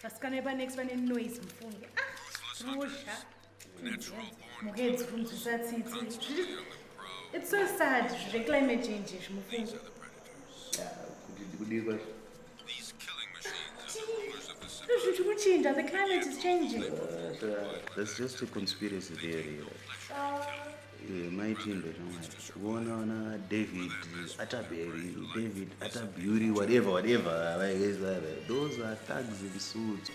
vasikana epa next vane noise mufunge rusha ah, mukadzi kunzwisa tsitsi it's so sad zveclimate change izvi mufunge ah, kuti ndikudii kwazvo kuchinja the climate is changing that's just a conspiracy theory eh, maitimbe shamwari kuona vana david ataberi david ataburi whatever whatever those are thugs in suits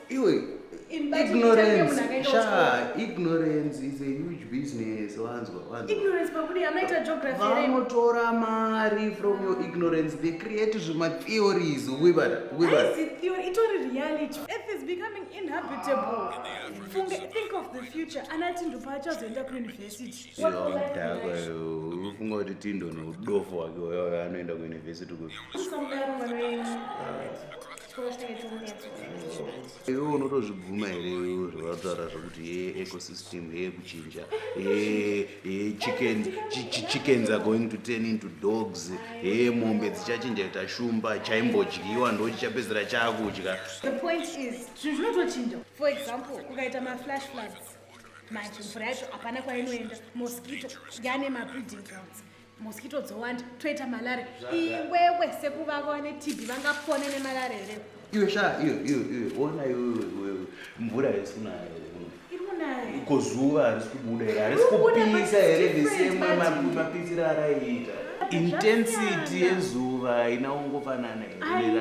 iwe ignorance sha ignorance is a huge business wanzwa wanzwavanotora mari from your ignorance they create zvima theories wibara wibara ufunga kuti tindo neudofo wake uyo anoenda kuuniversity kuti iwe unotozvibvuma here iwe zvavataura zvekuti ye ecosystem ye kuchinja chickens are going to turn into dogs he mombe dzichachinja kuita shumba chaimbodyiwa ndo chichapedzera chakudya manje mvura yacho hapana kwainoenda mosquito yane mabreeding grounds mosquito dzowanda toita malaria iwewe sekuvava vane tb vangapone nemalaria here iwe sha iwe iwe iwe ona iwe mvura harisi kunaya ko zuva harisi kubuda here harisi kupisa here vesemapitsira araiita intensity yezuva haina kungofanana here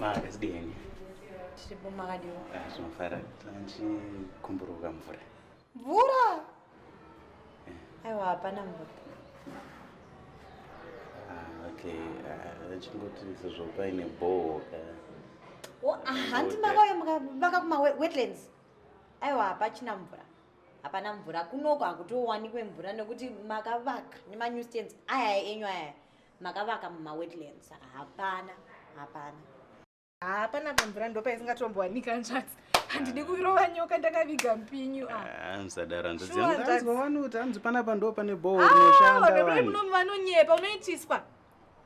Makadini? Tiri bomakadiwa. Ah, Zvinofarira kuti tanchi kumburuka mvura. Mvura. Aiwa hapana mvura. Ah, okay. Ah, chingoti sezvo paine bhoho ka. Oh, ah, hanti makauya maka kuma wetlands. Aiwa hapachina mvura. Hapana mvura. Kunoko hakutowanikwe mvura nekuti makavaka nemanew stands aya enyu aya. Makavaka muma wetlands. Hapana. Hapana. haa panapa mvura ndopaisingatombowanika nzvadzi handidi ah. kurova nyoka ndakaviga mpinyu ah. ah, musadara nzvadzianzwa wanuti hanzi panapa ndo pane bhohorinoshanda vanonyepa unoitiswa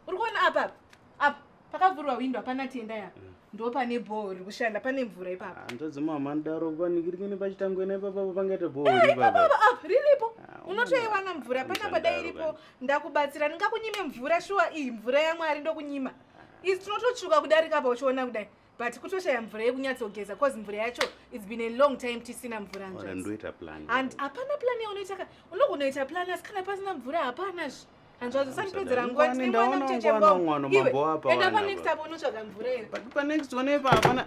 uri kuona apa apa pakavhurwa windo hapana tenda ya mm. ndo pane bhoho riri kushanda pane mvura ipapa hanzvadzi mama ndaro vanikirikini pachitangwena ipapapa pangaita bhoho eh, ipapapa riripo unotoiwana mvura panapa dai iripo ndakubatsira ndingakunyime mvura shuwa iyi mvura yamwari ndokunyima isi tinototsvuka kudarika apa uchiona kudai but kutoshaya mvura yekunyatsogeza bcause mvura yacho its been a long time tisina mvura ndoita plan and hapana plan yaunoita ka unogonoita plan asi kana pasina mvura hapana zvi hanzvadzo usandipedzera nguva tine mwana muchecheboenda panext apo unotsvaga mvura iri but panext one ipa hapana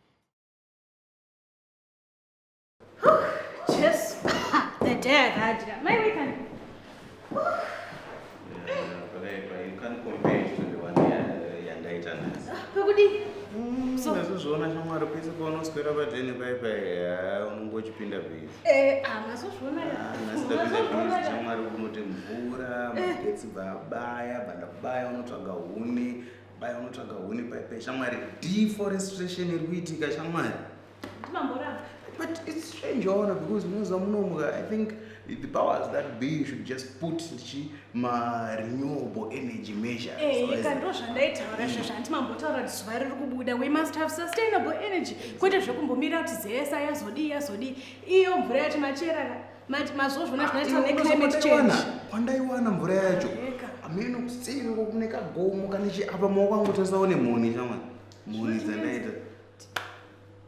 Jesu, the day I had you. My weekend. Unozozviona shamwari pese paunoswera padheni pai pai unenge uchipinda bhizi. Eh, ah, mazozviona ya. Ah, Nasitapinda bhizi shamwari unoti mvura, eh. magetsi baba ya, banda baya unotsvaga huni. Baya unotsvaga huni paipai shamwari. Deforestation iri kuitika shamwari. Ndimamboramba. But it's strange waona because munoziva munomuka I think the powers that be should just put chi ma renewable energy measure. Eh, so ika ndo zvandaitaura izvo zvanti mambotaura kuti zuva riri kubuda we must have sustainable energy kwete zvekumbomira kuti zesa yazodii yazodii iyo mvura yacho macherana Mati mazvozvona zvinoita neclimate change. Kwandaiwana mvura yacho. Ameno kusini kune kagomo kana chi apa maoko angu tasaone moni shamwa. Moni dzandaita.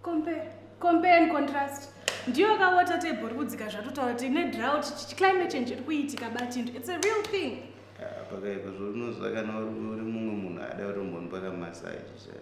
Compare compare and contrast. Ndiyo ka water table iri kudzika zvatotaura kuti ne drought climate change iri kuitika batindu. It's a real thing. Ah, pakaipa zvorino zvakana uri mumwe munhu ada kutombonipaka massage chaiyo.